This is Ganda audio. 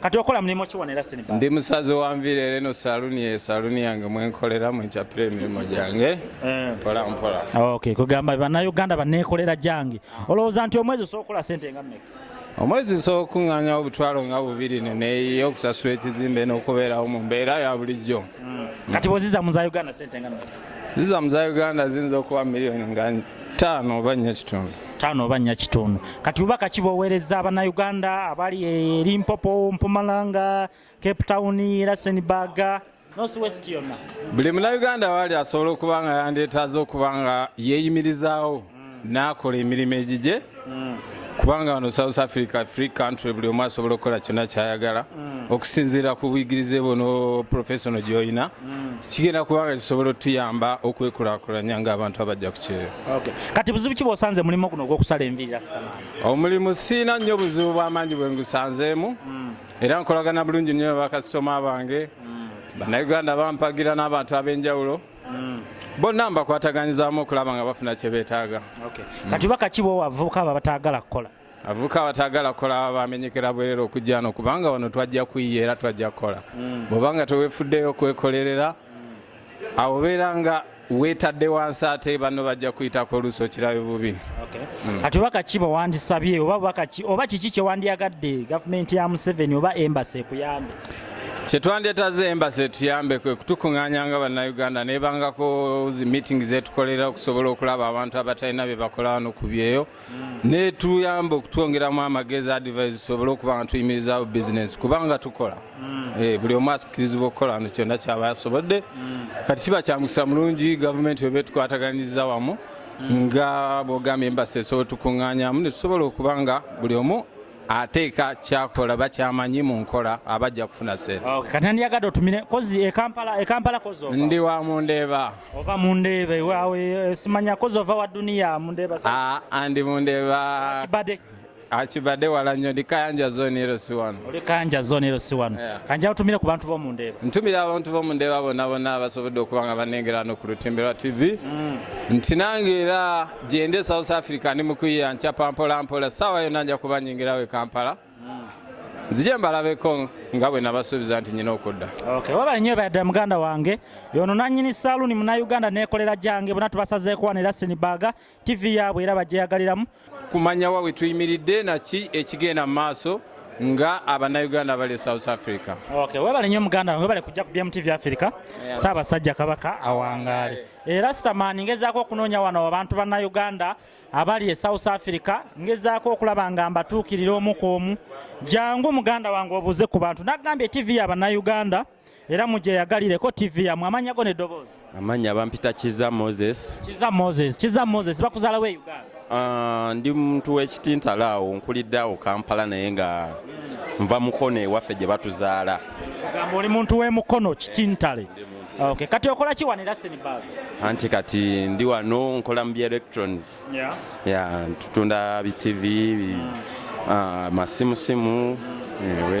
kati okola mulimu ki wano era siniba ndi musaze wa nviiri era eno saluni ye saluni yange mwenkolera mwenkyapira emirimu gyange eh. mpola mpola ok kugamba banauganda baneekolera gyange olowooza nti omwezi osobola okukola sente nga mmeka omwezi nsobola okukuŋŋaanyawo obutwalo nga bubiri neneeyiyo okusasula ekizimbe n'okubeerawo mu mbeera ya bulijjo hmm. kati bwoziza mu za uganda sente nga mmeka zizamu za uganda ziyinza okuba miliyoni nga taano oba nnya kitundu taano oba nnya kitundu kati bubaka kiboweereza abanauganda abali eri mpopo mpumalanga cape town rasenburg buli munauganda waali asobola okuba nga yandeetaaza okuba nga yeeyimirizaawo n'akola emirimu egigye kubanga wano south africa free country buli omu asobola okukola kyonna kyayagala mm. okusinziira ku buyigirize bwo no professional gyolina mm. kigenda kubanga kisobola otuyamba okwekulakulanya ngaabantu abajja ku kyeyo kati buzibu ki bwosanze mulimu guno ogwokusala enviira omulimu siina nnyo obuzibu bwamaanyi bwe ngusanzeemu mm. era nkolagana bulungi nnyo bakasitoma bange bannayuganda bampagira n'abantu ab'enjawulo mm. bonna mbakwataganyizamu okulaba nga bafuna kyebetaaga okay. mm. kati bakakibo wavuka abo abatagala kukola avuka abatagala kukola bamenyekera bwerera okujja no kubanga wano twajja kuyiya era twajja kukola mm. bwobanga tewefuddeyo okwekolerera mm. awo beera nga wetadde wansi ate banno bajja kuyitako oluusi okirabe bubi hmm. kati oba kaki bwewandisabye oba kiki kyewandiyagadde gavumenti ya museveni oba embasi ekuyambe kyetwandyetaze embasi etuyambe kwe kutukunganya nga bannayuganda nebangako zi meeting zetukolera okusobola okulaba abantu abatalina byebakola wano ku byeyo netuyamba okutwongeramu amagezi advise tusobole okuba nga tuyimirizawo bizinesi kubanga tukola mm. eh, buli omu asikirizibwa okukola no kyonna kyaba yasobodde mm. kati kiba kyamukisa mulungi gavumenti weba etukwataganyiza wamu mm. nga bwogambye embasi esobola tukunganyamu netusobola okuba nga buli omu ateeka kyakola bakyamanyi mu nkola abajja kufuna sente okay. kati nandiyagadde otumire kozi ekampala ekampala kozi ndi wa mundeeba ova mundeeba ewawe eh, simanya kozi ova wa duniya mundeeba ah, andi mundeeba kibadde akibadde wala nnyo ndi kayanja zone ero si wano oli kayanja zone ero si wano kanja otumire ku bantu b'omu ndeeba ntumira abantu b'omu ndeeba bonna bonna abasobodde okuba nga banengera no ku lutembera tv mm. nti nange era gyende south africa ndi mukuyiya nkyapa mpolampola saawa yonna nja kuba nyingirawo e kampala nzije mbalabeko nga bwe nabasuubiza nti nyina okudda wabale nyo badda muganda wange yono nanyini saluuni munauganda nekolera gyange bona tubasazeeko wano era sinibaga tv yaabwe era bajeyagaliramu kumanya wa wetuyimiridde naki ekigenda mu maaso nga abanauganda bali e south africa webale nyo muganda wange webale kujja ku bmtv africa saabasajja kabaka awangaale era sitaman ngezaako okunoonya wano abantu bannayuganda abali e south africa ngezaako okulaba nga mbatuukirira omu ku omu jangu muganda wange obuuze ku bantu nagambye tv ya bannayuganda era mugyeyagalireko tv yamwe amanya go nedoboozi amanya bampita kiza moses kiza moses kiza moses bakuzalawo e uganda uh, ndi muntu wekitintala awo nkulidde awo kampala naye nga nva mukono ewaffe gye batuzaala gamba oli muntu wemukono kitintale Okay, kati okola ki wano era Senegal? Anti kati ndi wano nkola mu bya electrons. Yeah. Yeah, tutunda bi TV, bi, mm. uh, masimu simu. Mm. Yeah,